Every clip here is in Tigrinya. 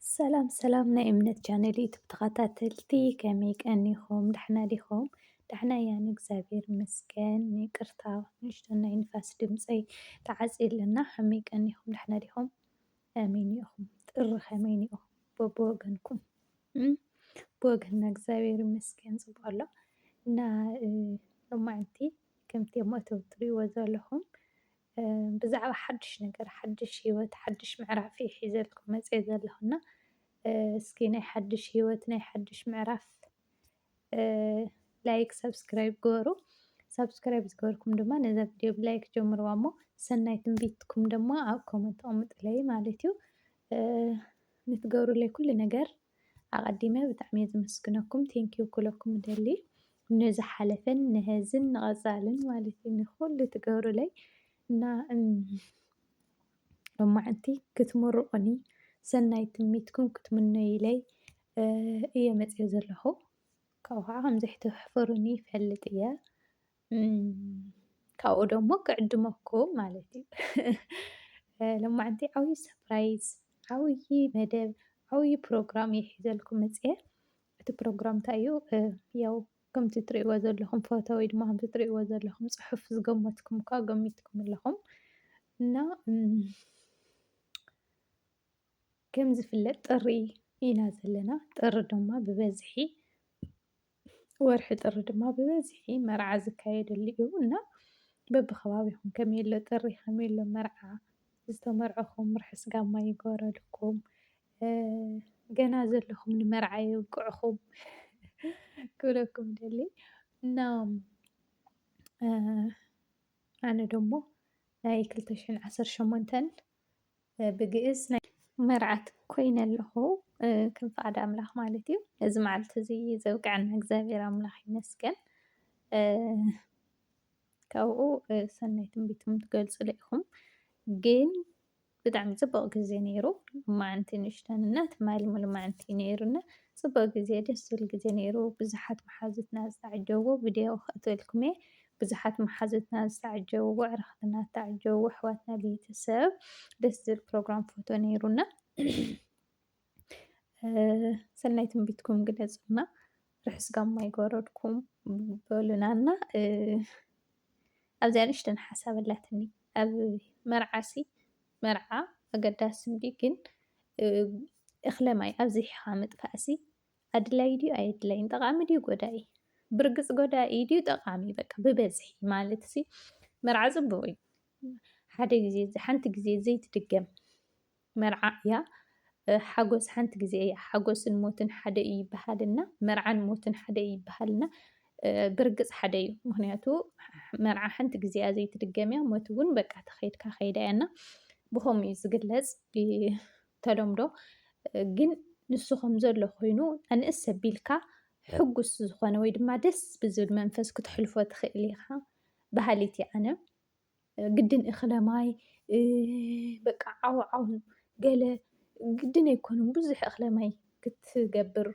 ሰላም ሰላም ናይ እምነት ቻነል ዩቱብ ተኸታተልቲ ከመይ ቀኒኹም? ዳሕና ዲኹም? ዳሕና እያ ንእግዚኣብሔር ይመስገን። ይቅርታ ንእሽቶ ናይ ንፋስ ድምፀይ ተዓፅዩ ኣለና። ከመይ ቀኒኹም? ዳሕና ዲኹም? ኣሜን ኢኹም? ጥሪ ከመይ ኢኹም? በብወገንኩም ብወገንና እግዚኣብሔር ይመስገን ፅቡቅ ኣሎ እና ሎማዕንቲ ከምቲ ኣብ መእተዊ እትሪእዎ ዘለኹም ብዛዕባ ሓድሽ ነገር ሓድሽ ሂወት ሓድሽ ምዕራፍ እየ ሒዘልኩም መፂአ ዘለኹ እና እስኪ ናይ ሓድሽ ሂወት ናይ ሓድሽ ምዕራፍ ላይክ ሰብስክራይብ ግበሩ ሰብስክራይብ ዝገበርኩም ድማ ነዛ ቪድዮ ብላይክ ጀምርዋ እሞ ሰናይ ትንቢትኩም ድማ ኣብ ኮመንት ኣቕምጡለይ ማለት እዩ ንትገብሩለይ ኩሉ ነገር ኣቀዲመ ብጣዕሚ እየ ዝምስግነኩም ቴንክ ዩ ክብለኩም እደሊ ንዝሓለፈን ንሀዝን ንቀፃልን ማለት እዩ ንኩሉ ትገብሩለይ እና ሎማዓንቲ ክትምርቁኒ ሰናይ ትምኒትኩም ክትምነዩለይ እየ መፅየ ዘለኹ ካብኡ ከዓ ከምዘይትሕፍሩኒ ይፈልጥ እየ። ካብኡ ደሞ ክዕድመኩም ማለት እዩ ሎማዓንቲ ዓብዪ ሰፕራይዝ ዓብዪ መደብ ዓብዪ ፕሮግራም እየ ሒዘልኩም መፅየ እቲ ፕሮግራም እንታይ እዩ ያው ከምቲ ትሪእዎ ዘለኹም ፎቶ ወይ ድማ ከምቲ ትሪእዎ ዘለኹም ፅሑፍ ዝገመትኩም እኳ ገሚትኩም ኣለኹም እና ከም ዝፍለጥ ጥሪ ኢና ዘለና ጥሪ ድማ ብበዝሒ ወርሒ ጥሪ ድማ ብበዝሒ መርዓ ዝካየደሉ እዩ እና በብከባቢኹም ከመይ ኣሎ ጥሪ ከመይ ኣሎ መርዓ ዝተመርዐኹም ርሕስ ጋማ ይገበረልኩም ገና ዘለኹም ንመርዓ የብቅዕኹም ክብለኩም ደሊ እና ኣነ ደሞ ናይ ክልተ ሽሕን ዓሰርተ ሸሞንተን ብግእዝ ናይ መርዓት ኮይነ ኣለኹ ከም ፍቃድ ኣምላኽ ማለት እዩ። እዚ መዓልቲ እዚ ዘብቅዐና እግዚኣብሔር ኣምላኽ ይመስገን። ካብኡ ሰናይ ትንቢትኩም ትገልጹሉ ኢኹም ግን ብጣዕሚ ጽቡቅ ግዜ ነይሩ መዓንቲ ንእሽተን እና ትማሊ ሙሉእ መዓንቲ ነይሩና ጽቡቅ ግዜ ደስ ዝብል ግዜ ነይሩ ብዙሓት መሓዙትና ዝተዓጀብዎ ቪድዮ ከእትወልኩም እየ ብዙሓት መሓዙትና ዝተዓጀብዎ ኣዕርኽትና ዝተዓጀብዎ ኣሕዋትና ቤተሰብ ደስ ዝብል ፕሮግራም ፎቶ ነይሩና። ሰናይ ትንቢትኩም ግለጹና ርሑስ ጋማ ይጎረድኩም በሉናና። ኣብዚኣ ንእሽተን ሓሳብ ኣላትኒ ኣብ መርዓሲ መርዓ ኣገዳሲ እንዲ ግን እኽለ ማይ ኣብዚሕኻ ምጥፋእሲ ኣድላዪ ድዩ ኣየድላዪን፣ ጠቓሚ ድዩ ጎዳኢ፣ ብርግጽ ጎዳኢ ድዩ ጠቓሚ፣ በቃ ብበዝሒ ማለትሲ መርዓ ጽቡቕ እዩ፣ ሓደ ግዜ ሓንቲ ግዜ ዘይትድገም መርዓ እያ፣ ሓጎስ ሓንቲ ግዜ እያ፣ ሓጎስን ሞትን ሓደ እዩ ይበሃልና፣ መርዓን ሞትን ሓደ እዩ ይበሃልና፣ ብርግጽ ሓደ እዩ፣ ምክንያቱ መርዓ ሓንቲ ግዜ እያ ዘይትድገም እያ፣ ሞት እውን በቃ ተኸይድካ ከይዳ እያና ብከምኡ እዩ ዝግለጽ። ተለምዶ ግን ንሱ ከምዘሎ ኮይኑ ኣንእስ ኣቢልካ ሕጉስ ዝኾነ ወይ ድማ ደስ ብዝብል መንፈስ ክትሕልፎ ትኽእል ኢኻ በሃሊት እየ ኣነ ግድን እኽለ ማይ በቃ ዓው ዓው ገለ ግድን ኣይኮኑን ብዙሕ እኽለ ማይ ክትገብር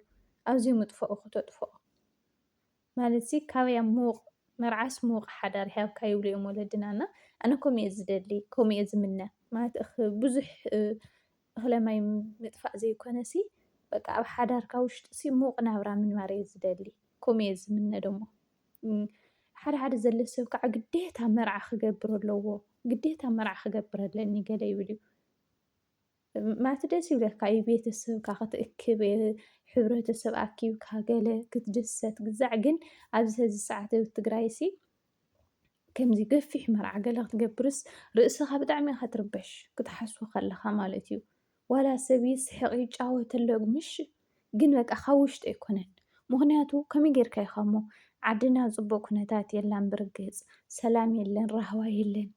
ኣዝዩ ምጥፍኦ ክተጥፍኦ ማለትሲ ካበይ ኣብ ምዉቕ መርዓስ ምዉቕ ሓዳር ይሃብካ ይብሉ እዮም ወለድና እና ኣነ ከምኡ እየ ዝደሊ ከምኡ እየ ዝምነ ማለት ብዙሕ እኽለ ማይ ምጥፋእ ዘይኮነሲ በቃ ኣብ ሓዳርካ ውሽጢሲ ምዉቕ ናብራ ምንባር እየ ዝደሊ ከምኡ እየ ዝምነ ደሞ ሓደ ሓደ ዘሎ ሰብ ከዓ ግዴታ መርዓ ክገብር ኣለዎ ግዴታ መርዓ ክገብር ኣለኒ ገለ ይብል እዩ ማለት ደስ ይብለካ እዩ ቤተሰብካ ክትእክብ ሕብረተሰብ ኣኪብካ ገለ ክትድሰት ግዛዕ ግን ኣብዚ ሀዚ ሰዓት ኣብ ትግራይ ሲ ከምዚ ገፊሕ መርዓ ገለ ክትገብርስ ርእስኻ ብጣዕሚ ኢኻ ትርበሽ ክትሓስቦ ከለኻ ማለት እዩ ዋላ ሰብ ይስሕቕ ይጫወት ኣሎ ምሽ ግን በቃ ካብ ውሽጢ ኣይኮነን ምክንያቱ ከመይ ጌርካ ኢኻ እሞ ዓድና ፅቡቅ ኩነታት የላን ብርግፅ ሰላም የለን ራህዋ የለን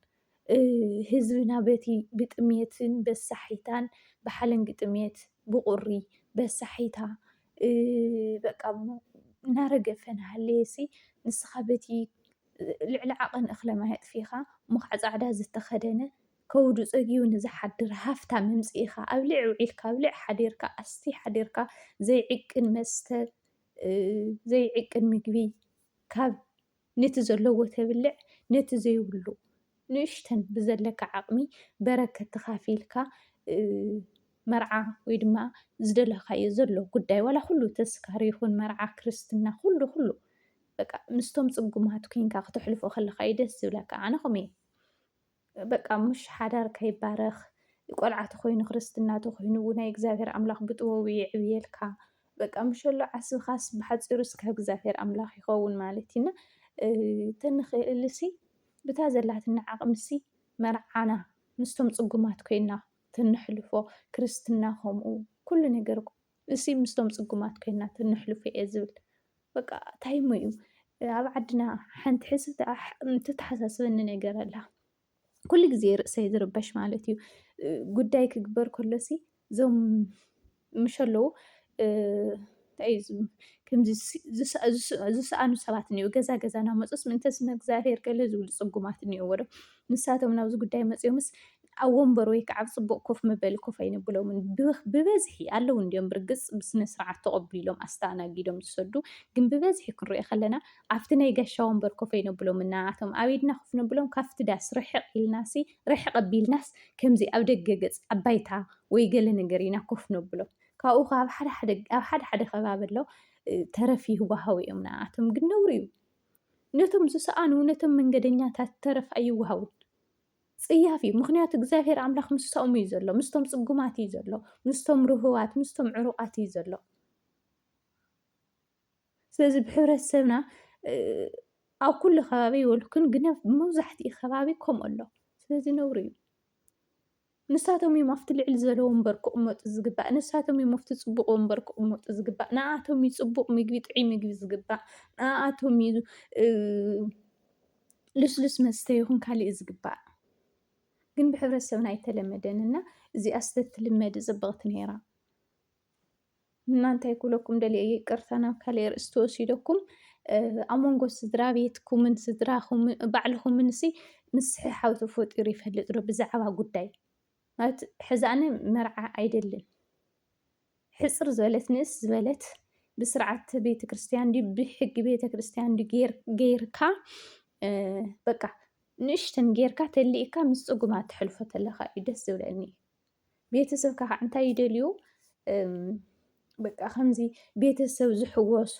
ህዝብና በቲ ብጥምየትን በሳሒታን ብሓለንጊ ጥምየት ብቑሪ በሳሒታ በቃ እናረገፈ እናሃለየሲ ንስኻ በቲ ልዕሊ ዓቐን እኽለ ማይ ኣጥፊእኻ እንዃዕ ፃዕዳ ዝተኸደነ ከብዱ ፀግዩ ንዝሓድር ሃፍታም ኣምፂእኻ ኣብልዒ ውዒልካ ኣብልዒ ሓዲርካ ኣስቲ ሓዲርካ ዘይዕቅን መስተ ዘይዕቅን ምግቢ ካብ ነቲ ዘለዎ ተብልዕ ነቲ ዘይብሉ ንእሽተን ብዘለካ ዓቕሚ በረከት ተኻፊልካ መርዓ ወይ ድማ ዝደለኻዮ ዘሎ ጉዳይ ዋላ ኩሉ ተስካር ይኹን መርዓ ክርስትና ኩሉ ኩሉ በቃ ምስቶም ፅጉማት ኮይንካ ክተሕልፎ ከለካ እዩ ደስ ዝብለካ ኣነ ከምኡ እየ በቃ ምሽ ሓዳር ከይባረኽ ቆልዓ ተኾይኑ ክርስትና ተኾይኑ ውናይ እግዚኣብሔር ኣምላኽ ብጥበቡ የዕብየልካ በቃ ምሸሎ ዓስብኻስ ብሓፂሩ እስካ እግዚኣብሔር ኣምላኽ ይኸውን ማለት እዩ እና ተንኽእልሲ ብታ ዘላትና ዓቕምሲ መርዓና ምስቶም ፅጉማት ኮይና ተንሕልፎ ክርስትና ከምኡ ኩሉ ነገር እሲ ምስቶም ፅጉማት ኮይና ተንሕልፎ እየ ዝብል በቃ ታይሞ እዩ ኣብ ዓድና ሓንቲ ሕስብ ትተሓሳስበኒ ነገር ኣላ ኩሉ ግዜ ርእሰይ ዝርበሽ ማለት እዩ ጉዳይ ክግበር ከሎሲ እዞም ምሽ ኣለዉ ከምዚ ዝሰኣኑ ሰባት እኒኡ ገዛ ገዛ ናመፁስ ምእንተ ስመ እግዚኣብሄር ገለ ዝብሉ ፅጉማት እኒኦዎ ዶ ንሳቶም ናብዚ ጉዳይ መፂኦምስ ኣብ ወንበር ወይ ከዓ ኣብ ፅቡቕ ኮፍ መበሊ ኮፍ ኣይነብሎምን። ብበዝሒ ኣለዉ እንድዮም ብርግፅ ብስነ ስርዓት ተቐቢሎም ኣስተኣናጊዶም ዝሰዱ ግን ብበዝሒ ክንሪኦ ከለና ኣብቲ ናይ ጋሻ ወንበር ኮፍ ኣይነብሎምን ንኣኣቶም ኣብ ኢድና ኮፍ ነብሎም ካብቲ ዳስ ርሕቕ ኢልናሲ ርሕቕ ኣቢልናስ ከምዚ ኣብ ደገ ገፅ ኣብ ባይታ ወይ ገለ ነገር ኢና ኮፍ ነብሎም ካብኡ ከ ኣብ ሓደ ሓደ ኣብ ሓደ ሓደ ከባቢ ኣሎ ተረፍ ይህወሃው እዮም ንኣኣቶም ግን ነውሪ እዩ ነቶም ዝሰኣኑ ነቶም መንገደኛታት ተረፍ ኣይወሃውን ጽያፍ እዩ ምክንያቱ እግዚኣብሔር ኣምላኽ ምስኦም እዩ ዘሎ ምስቶም ጽጉማት እዩ ዘሎ ምስቶም ርህዋት ምስቶም ዕሩቃት እዩ ዘሎ ስለዚ ብሕብረተሰብና ኣብ ኩሉ ከባቢ ይበልኩን ግን መብዛሕትኡ ከባቢ ከምኡ ኣሎ ስለዚ ነውሪ እዩ ንሳቶም እዮም ኣብቲ ልዕሊ ዘሎ ወንበር ክቕመጡ ዝግባእ ንሳቶም እዮም ኣብቲ ፅቡቕ ወንበር ክቕመጡ ዝግባእ ንኣቶም እዩ ፅቡቕ ምግቢ ጥዑይ ምግቢ ዝግባእ ንኣቶም እዩ ልስሉስ መስተ ይኹን ካሊእ እዩ ዝግባእ ግን ብሕብረተሰብና ኣይተለመደን እና እዚኣስ ተትልመድ ፅብቕቲ ነይራ እና እንታይ ኩለኩም ደልየ ይቅርታ ናብ ካልእ ርእሲ ተወሲደኩም ኣብ መንጎ ስድራ ቤትኩምን ስድራኹም ባዕልኹምን ሲ ምስሕሓብ ተፈጢሩ ይፈልጥ ዶ ብዛዕባ ጉዳይ ማለት ሕዚ ኣነ መርዓ ኣይደልን ሕጽር ዝበለት ንእስ ዝበለት ብስርዓት ቤተ ክርስቲያን ድዩ ብሕጊ ቤተ ክርስቲያን ድዩ ጌር- ጌርካ እ፣ በቃ ንእሽተን ጌርካ ተሊእካ ምስ ጽጉማ ተሕልፎ ተለካ እዩ ደስ ዝብለኒ ቤተሰብካ ከዓ እንታይ ይደልዩ እም፣ በቃ ከምዚ ቤተሰብ ዝሕወሶ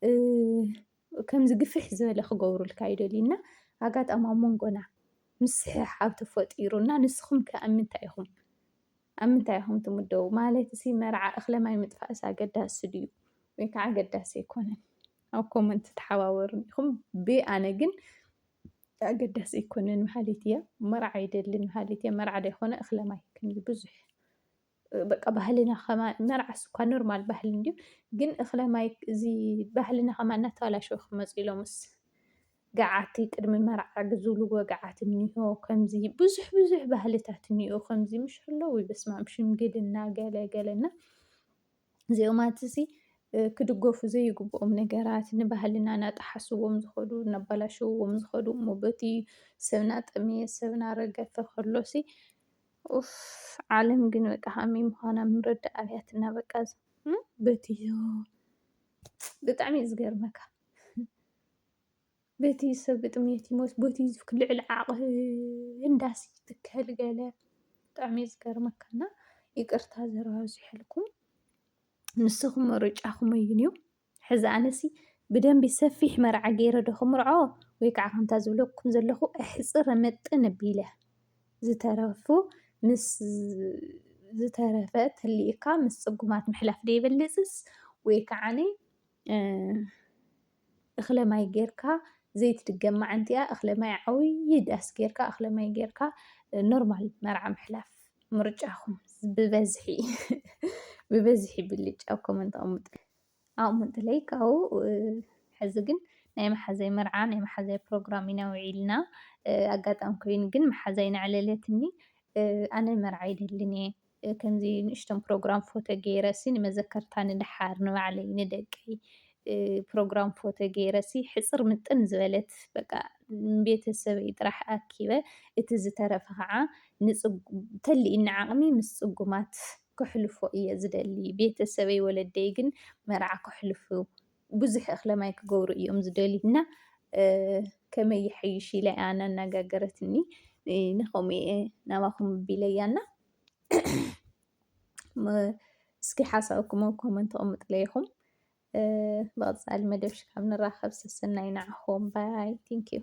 እ፣ ከምዚ ግፍሕ ዝበለ ክገብሩልካ ይደልዩ እና ኣጋጣሚ ኣብ መንጎና ምስሕሓብ ተፈጢሩ እና ንስኹም ከ ኣብ ምንታይ ኢኹም ኣብ ምንታይ ኢኹም ትምደቡ ማለት እሲ መርዓ እኽለ ማይ ምጥፋእስ ኣገዳሲ ድዩ ወይ ከዓ ኣገዳሲ ኣይኮነን ኣብ ኮመንት ተሓባበሩን ኢኹም ብኣነ ግን ኣገዳሲ ኣይኮነን መሃሊት እያ መርዓ ይደልን መሃሊት እያ መርዓ ዘይኮነ እኽለ ማይ ከምዚ ብዙሕ በቃ ባህልና ከማ መርዓስ እኳ ኖርማል ባህሊ እንድዩ ግን እክለ ማይ እዚ ባህልና ከማ እናተባላሸው ክመፁ ኢሎምስ ገዓቲ ቅድሚ መርዓ ዝብልዎ ገዓት እኒሆ ከምዚ ብዙሕ ብዙሕ ባህልታት እኒኦ ከምዚ ምሽ ኣለዉ በስማም ሽምግልና ገለ ገለና እዚኦማት እዚ ክድገፉ ዘይግብኦም ነገራት ንባህልና ናጠሓስዎም ዝኸዱ እናባላሸውዎም ዝኸዱ እሞ በቲ ሰብና ጠመየ ሰብና ረገፈ ከሎሲ ኡፍ ዓለም ግን በቃ ከመይ ምዃና ምርዳእ ኣብያትና በቃ በቲ ብጣዕሚ እዩ ዝገርመካ በቲ ሰብ ብጥሜት ይሞት በቲ ልዕሊ ዓቕሚ እንዳሲ ትከል ገለ ብጣዕሚ እዩ ዝገርመካ እና ይቅርታ ዘረባ ኣብዚሐልኩም ንስኹም ምርጫኹም እዩ ሕዚ ኣነሲ ብደንቢ ሰፊሕ መርዓ ገይረ ዶ ክምርዖ ወይ ከዓ ከምታ ዝብለኩም ዘለኹ ኣሕፅር ምጥን ኣቢለ ዝተረፉ ምስ ዝተረፈ ተሊእካ ምስ ፅጉማት ምሕላፍ ዶ ይበልፅስ ወይ ከዓኒ እኽለ ማይ ጌርካ ዘይትድገም መዓንቲኣ እኽለ ማይ ዓብዪ ዳስ ጌርካ እኽለ ማይ ጌርካ ኖርማል መርዓ ምሕላፍ ምርጫኹም ብበዝሒ ብበዝሒ ብልጭ ኣብ ኮመንት ኣቐምጡ። ኣቕምጡለይ ካብኡ ሕዚ ግን ናይ መሓዛይ መርዓ ናይ መሓዛይ ፕሮግራም ኢና ውዒልና ኣጋጣሚ ኮይኑ ግን መሓዛይ ነዕለለትኒ ኣነ መርዓ ይደልን እየ ከምዚ ንእሽቶም ፕሮግራም ፎቶ ገይረሲ ንመዘከርታ ንደሓር ንባዕለይ ንደቀይ ፕሮግራም ፎቶ ገይረሲ ሕፅር ምጥን ዝበለት በቃ ንቤተሰበይ ጥራሕ ኣኪበ እቲ ዝተረፈ ከዓ ተሊኡኒ ዓቕሚ ምስ ፅጉማት ከሕልፎ እየ ዝደሊ። ቤተሰበይ ወለደይ ግን መርዓ ከሕልፉ ብዙሕ እኽለማይ ክገብሩ እዮም ዝደልዩ እና ከመይ ይሐይሽ ኢለ እያ እናነጋገረትኒ ንኸምኡ እየ ናባኹም ቢለያና እስኪ ሓሳብኩም ኣብ ኮመንት ኣቕምጡለይ ኢኹም። ብቐፃሊ መደብ ሽካብ ንራኸብ ሰሰናይ ንዓኹም ባይ ዩ።